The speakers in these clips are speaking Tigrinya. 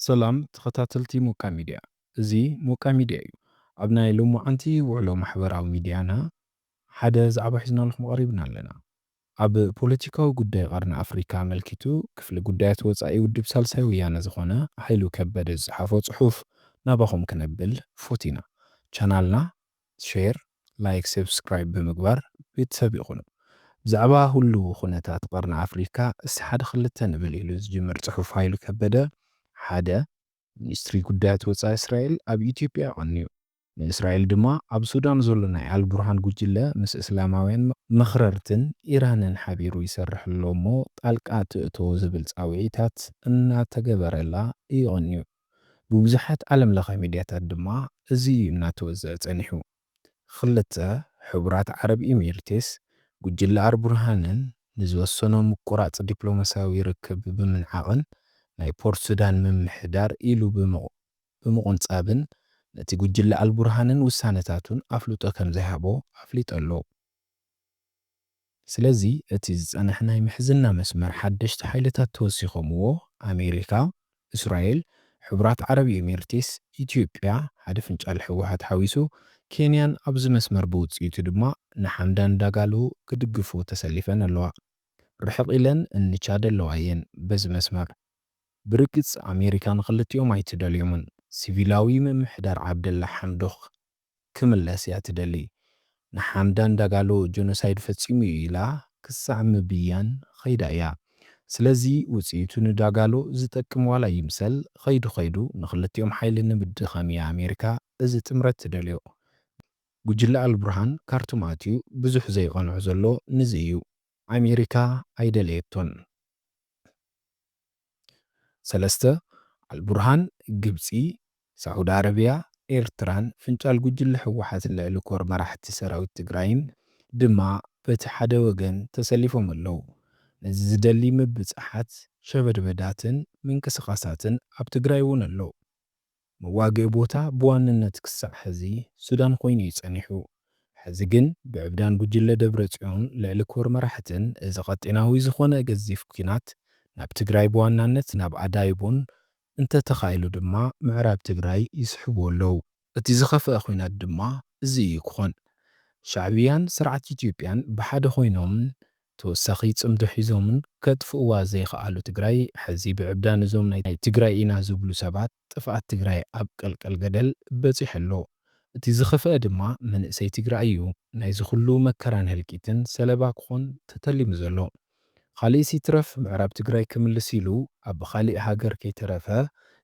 ሰላም ተኸታተልቲ ሞቃ ሚድያ እዚ ሞቃ ሚድያ እዩ ኣብ ናይ ሎሞዓንቲ ውዕሎ ማሕበራዊ ሚድያና ሓደ ዛዕባ ሒዝናልኹም ቐሪብና ኣለና ኣብ ፖለቲካዊ ጉዳይ ቐርኒ ኣፍሪካ ኣመልኪቱ ክፍሊ ጉዳያት ወፃኢ ውድብ ሳልሳይ ወያነ ዝኾነ ሃይሉ ከበደ ዝፀሓፎ ፅሑፍ ናባኹም ክነብል ፎቲና ቻናልና ሼር ላይክ ሰብስክራይብ ብምግባር ቤተሰብ ይኹኑ። ብዛዕባ ሁሉው ኹነታት ቐርኒ ኣፍሪካ እስቲ ሓደ ኽልተ ንብል ኢሉ ዝጅምር ፅሑፍ ሃይሉ ከበደ ሓደ። ሚኒስትሪ ጉዳያት ወፃኢ እስራኤል ኣብ ኢትዮጵያ ቐንዩ ንእስራኤል ድማ ኣብ ሱዳን ዘሎ ናይ ኣልቡርሃን ጉጅለ ምስ እስላማውያን መኽረርትን ኢራንን ሓቢሩ ይሰርሕ ኣሎ እሞ ጣልቃ ትእቶ ዝብል ፃውዒታት እናተገበረላ እዩ ቐንዩ። ብብዙሓት ዓለም ለኸ ሚድያታት ድማ እዚ እዩ እናተወዘዐ ፀኒሑ። ኽልተ ሕቡራት ዓረብ ኢሚርቴስ ጉጅለ ኣርቡርሃንን ንዝወሰኖ ምቁራፅ ዲፕሎማሲያዊ ርክብ ብምንዓቕን ናይ ፖርት ሱዳን ምምሕዳር ኢሉ ብምቑንፃብን ነቲ ጉጅለ ኣልቡርሃንን ውሳነታቱን ኣፍልጦ ከምዘይሃቦ ኣፍሊጡ ኣሎ። ስለዚ እቲ ዝጸንሐ ናይ ምሕዝና መስመር ሓደሽቲ ሓይልታት ተወሲኾምዎ፣ ኣሜሪካ፣ እስራኤል፣ ሕቡራት ዓረብ ኤሚርቲስ፣ ኢትዮጵያ፣ ሓደ ፍንጫል ህወሓት ሓዊሱ፣ ኬንያን ኣብዚ መስመር ብውጽኢቱ ድማ ንሓምዳን ዳጋሎ ክድግፍዎ ተሰሊፈን ኣለዋ። ርሕቕ ኢለን እኒ ቻድ ኣለዋ እየን በዚ መስመር። ብርግጽ ኣሜሪካ ንኽልቲኦም ኣይትደልዮምን። ሲቪላዊ ምምሕዳር ዓብደላ ሓምዶክ። ክምለስ እያ ትደሊ። ንሓምዳን ዳጋሎ ጆኖሳይድ ፈጺሙ እዩ ኢላ ክሳዕ ምብያን ኸይዳ እያ። ስለዚ ውጽኢቱ ንዳጋሎ ዝጠቅም ዋላ ይምሰል ኸይዱ ኸይዱ ንኽልቲኦም ሓይሊ ንምድኻም እያ ኣሜሪካ እዚ ጥምረት ትደልዮ። ጉጅለ ኣልቡርሃን ካርቱም ኣትዩ ብዙሕ ዘይቐንዖ ዘሎ ንዚ እዩ። ኣሜሪካ ኣይደለየቶን። ሰለስተ፣ ኣልቡርሃን፣ ግብጺ፣ ሳዑዲ ኣረብያ፣ ኤርትራን ፍንጫል ጉጅለ ህወሓት ልዕሊ ኮር መራሕቲ ሰራዊት ትግራይን ድማ በቲ ሓደ ወገን ተሰሊፎም ኣለዉ። ነዚ ዝደሊ ምብጻሓት፣ ሸበድበዳትን ምንቅስቓሳትን ኣብ ትግራይ'ውን ኣሎ። መዋግኢ ቦታ ብዋንነት ክሳዕ ሕዚ ሱዳን ኮይኑ እዩ ጸኒሑ። ሕዚ ግን ብዕብዳን ጉጅለ ደብረጽዮን ልዕሊ ኮር መራሕትን እዚ ቀጢናዊ ዝኾነ ገዚፍ ኩናት ናብ ትግራይ ብዋናነት ናብ ኣዳይቦን እንተ ተኻኢሉ ድማ ምዕራብ ትግራይ ይስሕብዎ ኣለው። እቲ ዝኸፍኣ ኩናት ድማ እዚ እዩ ክኾን። ሻዕብያን ስርዓት ኢትዮጵያን ብሓደ ኮይኖም ተወሳኺ ፅምዶ ሒዞምን ከጥፍእዋ ዘይኸኣሉ ትግራይ ሕዚ ብዕብዳን እዞም ናይ ትግራይ ኢና ዝብሉ ሰባት ጥፍኣት ትግራይ ኣብ ቀልቀል ገደል በፂሑ ኣሎ። እቲ ዝኸፈኣ ድማ መንእሰይ ትግራይ እዩ ናይዚ ኹሉ መከራን ህልቂትን ሰለባ ክኾን ተተሊሙ ዘሎ። ኻሊእስ ይትረፍ ምዕራብ ትግራይ ክምልስ ኢሉ ኣብ ኻሊእ ሃገር ከይተረፈ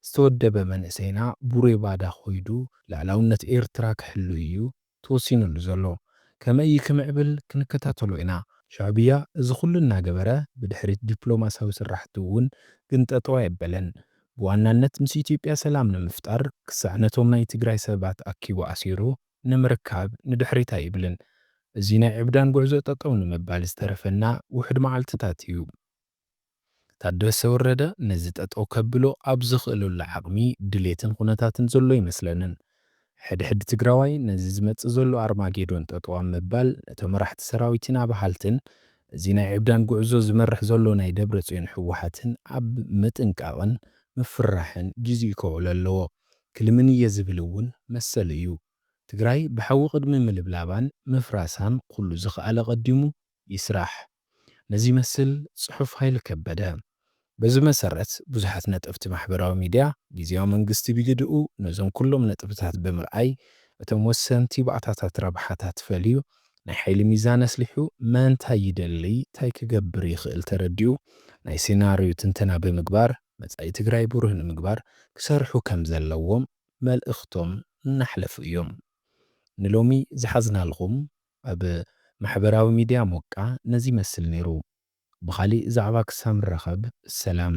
ዝተወደበ መንእሰይና ቡሬ ባዳ ኾይዱ ልኣላውነት ኤርትራ ክሕሉ እዩ ተወሲኑሉ ዘሎ ከመይ እዩ ክምዕብል ክንከታተሎ ኢና። ሻዕብያ እዚ ኩሉ እናገበረ ብድሕሪት ዲፕሎማሲያዊ ስራሕቱ እውን ግን ጠጠው ኣየበለን። ብዋናነት ምስ ኢትዮጵያ ሰላም ንምፍጣር ክሳዕ ነቶም ናይ ትግራይ ሰባት ኣኪቡ ኣሲሩ ንምርካብ ንድሕሪት ኣይብልን። እዚ ናይ ዕብዳን ጉዕዞ ጠጠው ንምባል ዝተረፈና ውሑድ መዓልትታት እዩ። ታደሰ ወረደ ነዚ ጠጠው ከብሎ ኣብ ዝኽእለሉ ዓቕሚ፣ ድሌትን ኹነታትን ዘሎ ኣይመስለንን። ሕድሕድ ትግራዋይ ነዚ ዝመፅእ ዘሎ ኣርማጌዶን ጠጠው ኣብ ምባል ነቶም መራሕቲ ሰራዊትን ኣብሃልትን እዚ ናይ ዕብዳን ጉዕዞ ዝመርሕ ዘሎ ናይ ደብረፅዮን ህወሓትን ኣብ ምጥንቃቕን ምፍርራሕን ግዚኡ ከውዕሎ ኣለዎ ክልምን እየ ዝብል እውን መሰሉ እዩ። ትግራይ ብሓዊ ቅድሚ ምልብላባን ምፍራሳን ኹሉ ዝክኣለ ቀዲሙ ይስራሕ ንዚመስል ጽሑፍ ሃይሉ ከበደ። በዚ መሰረት ብዙሓት ነጠፍቲ ማሕበራዊ ሚድያ ግዝያዊ መንግስቲ ብግድኡ ነዞም ኩሎም ነጥብታት ብምርኣይ እቶም ወሰንቲ ባእታታት ረብሓታት ፈልዩ ናይ ሓይሊ ሚዛን ኣስሊሑ መን ታይ ይደሊ ታይ ክገብር ይኽእል ተረዲኡ ናይ ሴናርዩ ትንተና ብምግባር መጻኢ ትግራይ ብሩህ ንምግባር ክሰርሑ ከምዘለዎም መልእኽቶም እናሕለፉ እዮም ንሎሚ ዝሓዝናልኹም ኣብ ማሕበራዊ ሚድያ ሞቃ ነዚ ይመስል ነይሩ ብኻሊእ ዛዕባ ክሳብ ንራኸብ ሰላም።